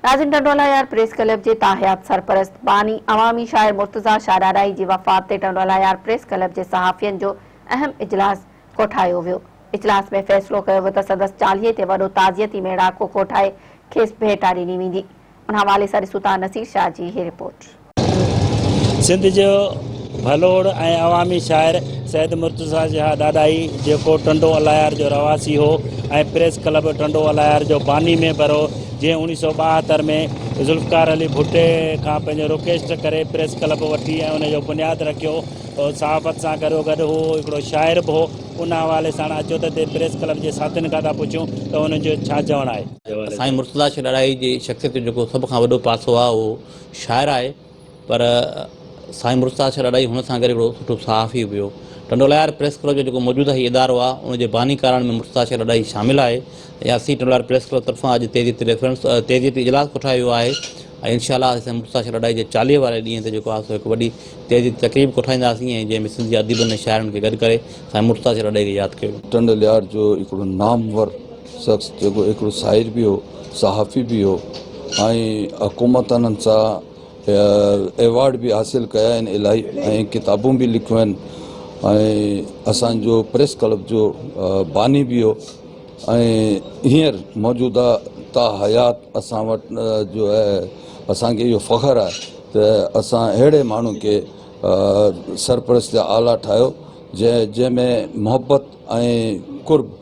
ناظم Tando Allahyar press club جي تاحيات سرپرست باني عوامي شاعر مرتضيٰ شاهڏاڏائي جي وفات تي ٽنڊوالا يار پريس ڪلب جي صحافين جو اهم اجلاس ڪوٺايو ويو اجلاس ۾ فيصلو ڪيو ويو ته سندس چاليهي تي وڏو تعزيتي ميڙاڪو ڪوٺائي کيس ڀيٽا ڏني ويندي ان حوالي سان ڏسون ٿا نصير شاهه جي هي رپورٽ. سنڌ جو ڀلوڙ ۽ عوامي شاعر سيد مرتضيٰ جها ڏاڏاهي جيڪو ٽنڊو الايار جو رهواسي هو ۽ پريس ڪلب ٽنڊو الايار جو باني ميمبر هو جنهن اوڻيهه سؤ ٻاهتر ۾ ذوالفقار علي ڀٽي کان پنهنجو رڪويسٽ ڪري پريس ڪلب وٺي ۽ ان جو بنياد رکيو صحافت سان گڏو گڏ هو هڪڙو شاعر به هو ان حوالي سان اچو ته پريس ڪلب جي ساٿين کان ٿا پڇون ته ان جو ڇا چوڻ آهي سائين مرتضيٰ شاهه ڏاڏاهي جي شخصيت جو جيڪو سڀ کان وڏو پاسو آهي اهو شاعر آهي پر سائين مرتضيٰ شاهه ڏاڏاهي هئڻ سان ڪري هڪڙو سٺو صحافي به هو. ٽنڊولهيار پريس ڪلب جو جيڪو موجوده هي ادارو آهي ان جي باني ڪارن ۾ مرتضيٰ شاهه ڏاڏاهي شامل آهي ۽ اسين ٽنڊولهيار پريس ڪلب طرفان اڄ تيزيء تي ريفرنس تيزيء تي اجلاس ڪوٺايو ويو آهي ۽ انشاء الله اسين سائين مرتضيٰ شاهه ڏاڏاهي جي چاليهه واري ڏينهن تي جيڪو آهي سو هڪ وڏي تيزيء تي تقريب ڪوٺائينداسين ۽ جنهن ۾ سنڌ جي اديبن ۽ شاعرن کي گڏ ڪري سائين مرتضيٰ شاهه ڏاڏاهي کي ياد ڪيو ويندو. ٽنڊولهيار جو هڪڙو نامور شخص جيڪو هڪڙو شاعر به هو صحافي به هو ۽ حڪومت انهن سان ايوارڊ به حاصل ڪيا آهن الاهي ۽ ڪتابون به لکيون آهن ۽ اسانجو پريس ڪلب جو باني به هو ۽ هينئر موجوده تا حيات اسان وٽ جو آهي اسانکي اهو فخر آهي ته اسان اهڙي ماڻهو کي سرپرست اعليٰ ٺاهيو جنهن جنهن ۾ محبت ۽ قرب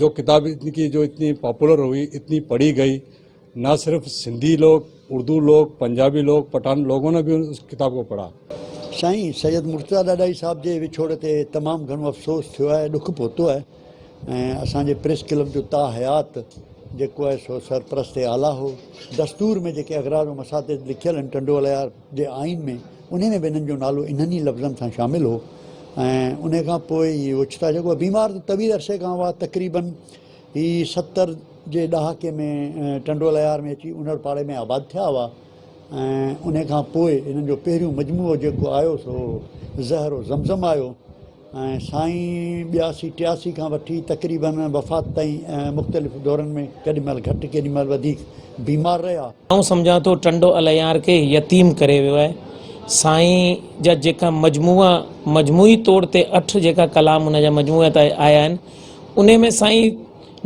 جو ڪتاب ان ڪي جو اتني پاپولر هئي اتني پڙهي گئي نه صرف سنڌي لوگ اردو لوگ پنجابي لوگ پٺان لوگون نه به اس ڪتاب ڪو پڙها. سائين سيد مرتضيٰ ڏاڏاهي صاحب جي وڇوڙ تي تمام گهڻو افسوس ٿيو آهي ڏک پهتو آهي ۽ اسان جي پريس ڪلب جو تا حيات جيڪو آهي سو سرپرست اعليٰ هو دستور ۾ جيڪي اغراض و مساطيل لکيل آهن ٽنڊو الهيار جي آئين ۾، انهي ۾ به انهن جو نالو انهن ئي لفظن سان شامل هو ۽ انهي کان پوء ئي اوچتا جڳو بيمار ته طويل عرصي کان هئا، تقريباً هي ستر جي ڏهاڪي ۾ ٽنڊو ليار ۾ اچي انڙ پاڙي ۾ آباد ٿيا هئا ۽ انهي کان پوء انهن جو پهريون مجموعو جيڪو آيو سو زهر و زمزم آيو. ۽ سائين ٻياسي ٽياسي کان وٺي تقريباً وفات تائين ۽ مختلف دورن ۾ ڪيڏي مهل گهٽ ڪيڏي مهل وڌيڪ بيمار رهيا. آئون سمجهان ٿو ٽنڊو الهيار کي يتيم ڪري ويو آهي. سائين جا جيڪا مجموعا مجموعي طور تي اٺ جيڪا ڪلام ان جا مجموعي تي آيا آهن انهي ۾ سائين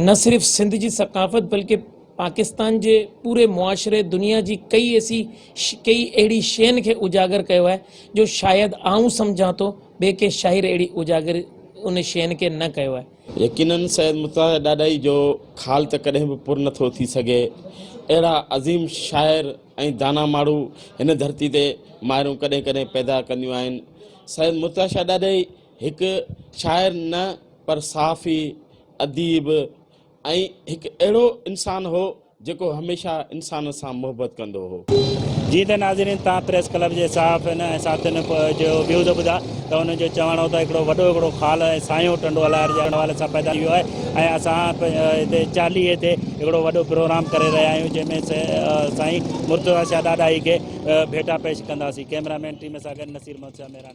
نه صرف سنڌ جي ثقافت بلڪه پاڪستان جي پوري معاشري دنيا جي ڪئي ايسي ڪئي اهڙي شين کي اجاگر ڪيو آهي جو شايد آئون سمجهان ٿو ٻئي ڪنهن شاعر اهڙي اجاگر ان شين کي نه ڪيو آهي. يقينن سيد مطهر ڏاڏائي جو خال ته ڪڏهن به پر نه ٿو ٿي سگهي. اهڙا عظيم شاعر ۽ دانا ماڻهو هن ڌرتي تي مائرون ڪڏهن ڪڏهن پيدا ڪنديون آهن. سيد مطهر شاهه ڏاڏائي هڪ شاعر نه پر صحافي، اديب، ۽ هڪ اهڙو انسان هو جيڪو هميشه انسانن سان محبت ڪندو هو. جيئن ته ناظرين توهان پريس ڪلب جي صحافين ۽ ساٿين جو بيهوده ٻڌا ته انهن جو چوڻ هو ته هڪڙو وڏو هڪڙو خال ۽ ساڃو ٽنڊو الاهر جي حوالي سان پيدا ٿي ويو آهي ۽ اسان هتي چاليهي تي هڪڙو وڏو پروگرام ڪري رهيا آهيون جنهن ۾ سائين مرتضيٰ شاهه ڏاڏاهي کي ڀيٽا پيش ڪنداسين ڪئميرا مين ٽيم سان گڏ نصير محمد شاهه مهراڻ